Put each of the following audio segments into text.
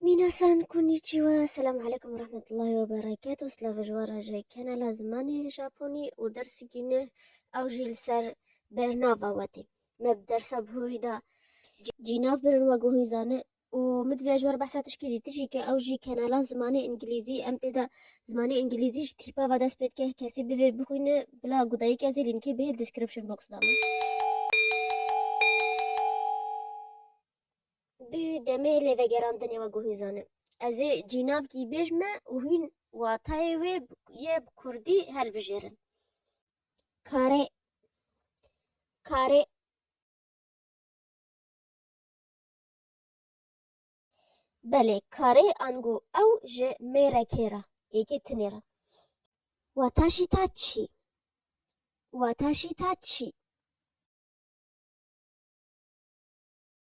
Minasan konnichiwa, selam aleykum ve rahmetullahi ve berekatuh, slavê ji wan re ji kanala zimanê japonî û dersê gîneh ew jî li ser bernava we tê. Me bi dersa bihurî de cînav birin we guhîn zane û min divêya ji we re behsa tişkî dî tijî ke ew jî kanala zimanê îngilîzî em tê de zimanê îngilîzî ji tîpa ve dest pê dike kesî bivê bixwîne bila ku dayîk ez ê lînkê bihê li description box de me. Bi demê lêvegerandinê we guhîn zanim. Ez ê cînavkî bêj me û hûn watayê wê yê bi kurdî hilbijêrin. Karê. Karê. Belê, karê ango ew ji mêrekê re, yekê tinê re. Wataşîta çî? Wataşîta çî?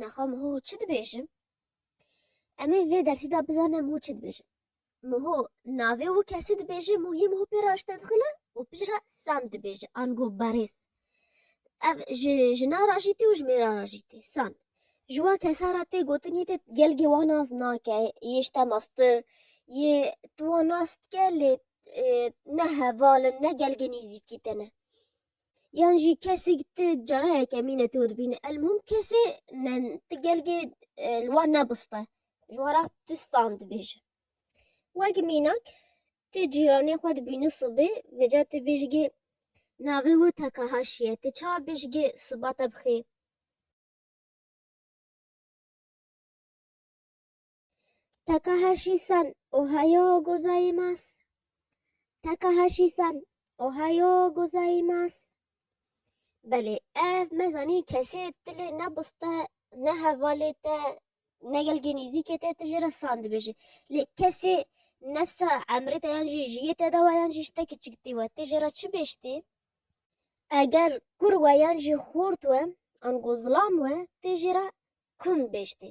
Naxwe Miho çi dibêjim? Em ê vê dersî de bizane Miho çi dibêje. Miho navê û kesî dibêje, Muhî Miho pê re aşte dixile û pişt re Sam dibêje, ango berêz. Ev ji jina re jî tê û ji mêra re jî tê, San. Ji wan kesa re tê gotin yê te gelgê wan nas nake, yê ji te meztir, yê tu wan nas dike lê ne heval in ne gelgê nêzîkî te ne. Yan jî kesî ti carayeke mîne tu dibîne elmûm kesê ne ti gelgê e, li wan nebiste ji wara ti stan dibêje. Wek mînak ti cîranê xwe dibîne sibê vêca ti bêjgê navê wê teka haşiye ti ça bêjgê siba te bixê. Takahashi-san, Ohayoo gozaimasu. Takahashi-san, Ohayoo gozaimasu. Belê, ev me zanî kesê tilê ne biz te, ne hevalê te, ne gelgê nîzîkê te, ti jê re san dibêjî. Lê kesê nefsa emrê te yan jî jiyê te de wa yan jî ji te kiçik tî we, ti jê re çi bêj tî? Eger kur we yan jî xort we, ango zilam we, ti jê re kum bêj tî.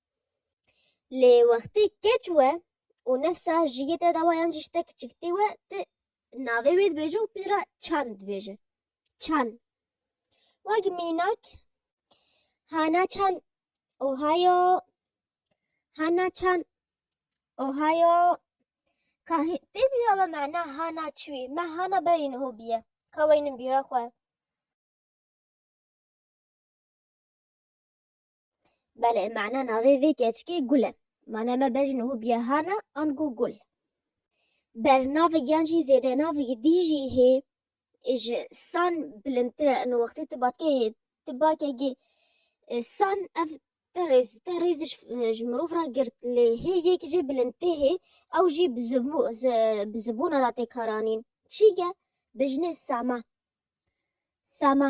Lê wextê keç we û nefsa ji yê te de wa yan jî ji te kiçik tê we tu navê wê dibêje û pişt re çand dibêje. Çan. Wek mînak Hana Çan Ohio Hana Çan Ohio Kahê tê bîra we mena Hana çûyî me Hana berî niho bîye ka weynin bîra xwe. Belê, mana navê vê keçikê Gul e. Mana me bejn û biyahan e ango gul. Bernavê yan jî zêdenavê dî jî hê ji san bilindtir e. Ino wextê tu batkeyê tu bake gê san ev te rêz te rêz ji mirov re girt lê hê yek jê bilindtê hê ew jî bi zibû bi zibûna re tê karanîn. Çîge, bijnê Sama. Sama.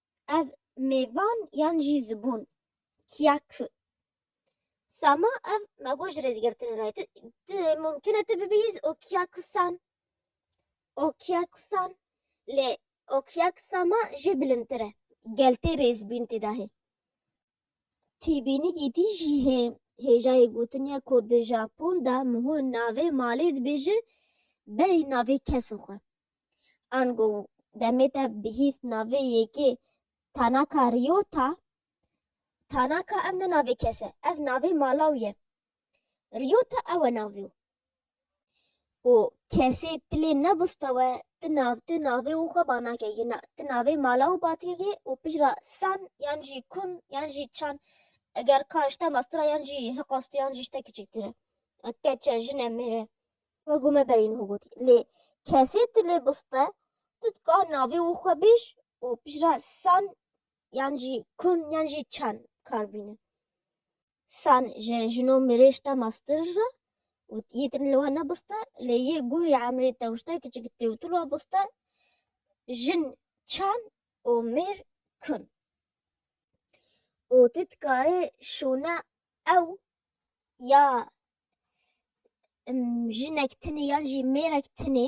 ev mêvan yan jî zibûn kiya ku Sama ev mego ji rêzgirtin re tu tu mumkin e tu bibihîz û kiya ku Sam û kiya ku Sam lê û kiya ku Sama jê bilindtir e gel tê rêzbîn tê de hê. Têbînîgî tî jî hê. Hêjayê gotin ye ku di Japon de miho navê malê dibêje berî navê kesên xwe. Ango demê te bihîst navê yekê Tanaka Ryota, Tanaka ev ne navê kes e, ev navê mala wî ye. Ryota ew e navê wî. û kesê ti lê nebusta we ti nav ti navê û xwe ba nake jî na ti navê mala û batiyê jî û pijra san yan jî kun yan jî çan eger ka işte mastura yan jî hiqastu yan jî işte kiçiktire keçe jine mêre xwe gume berîn xwe gotî lê kesê ti lê biste tu dika navê û xwe bêj û pijra san yan jî kun yan jî çan kar bîne. San ji jino mirêj te mastir ra û yê din li we nebiste lê yê gorî emrê te ûşte kiçik tê û tu li we biste jin çend û mêr kun û tu dikarê şûne ew ya jinek tinê yan jî mêrek tinê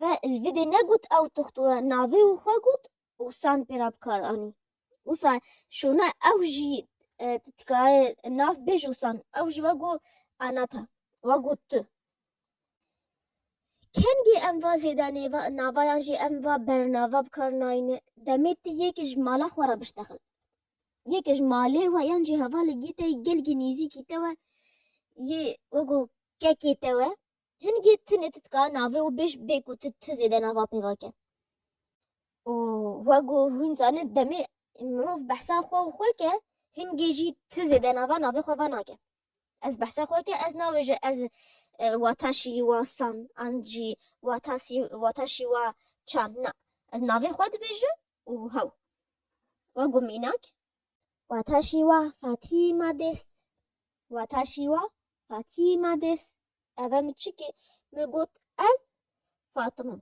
Ve li vî dê negot ew toxtora navê wî xwe got û san pê re bi kar anî. Wisa şûna ew jî tu tikaye nav bêj û san. Ew jî ve got Anata. We got tu. Kengê em va zêde nêva nava yan jî em va bernava bi kar nayîne. Demê tu yekê ji mala xwe re biştexil. Yekê ji malê we yan jî hevalekî te yê gelkî nêzîkî te we yê we got kekê te we. Hingê ti ne ti dika navê û bêj bê ku ti tu zêde nava pêva ke. Û wek ku hûn zanin demê mirov behsa xwe û xwe ke, hingê jî tu zêde nava navê xwe venake. Ez behsa xwe ke ez nabêje ez wata şî wa san an jî wata sî wata şî wa çan na. Ez navê xwe dibêje û hew. Wek ku mînak. Wata şî wa Fatîma dês. Wata şî wa Fatîma dês. Ev e min çikê. Min got ez Fatima.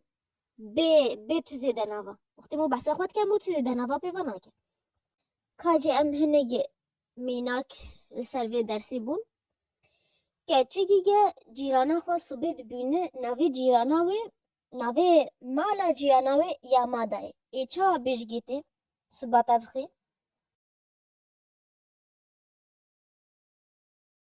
Bê, bê tu zêde nava. Wextê min behsa xwe dike min tu zêde nava pêva nake. Kacê em hinekê mînak li ser vê dersê bûn. Keçikî ge cîrana xwe sibê dibîni navê cîrana wê navê mala cîrana wê ya mada ye. Ê çawa bêjgê tê sibata bixê?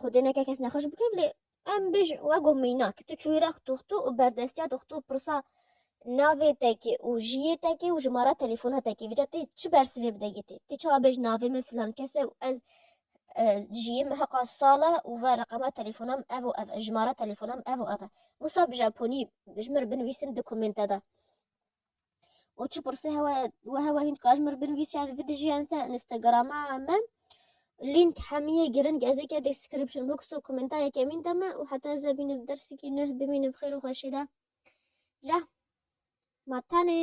Xwedê neke kes nexweş bike lê em bêj wego mînak tu çûyra xtuxtu û berdestiya dixtu pirsa navê tekê û jiyê tekê û jimara telefona tekê vêca tê çi bersivê bide yê tê tê çawa bêj navê min filan kes e û ez e, jiyê min heqa sal e û ve reqema telefona min ev û ev e jimara telefona min ev û ev e wisa bi japonî ji min binivîsin di komênte de û çi pirsî hewa we hewa hîn dikar ji min re binivîs yan vê dijîyan ser Instagrama me lînk hemiyê giring ez ê ke description box û komenta yekemîn de me û heta ez ve bînim dersekî nû bimînim xêr û xweşê de ja ma tenê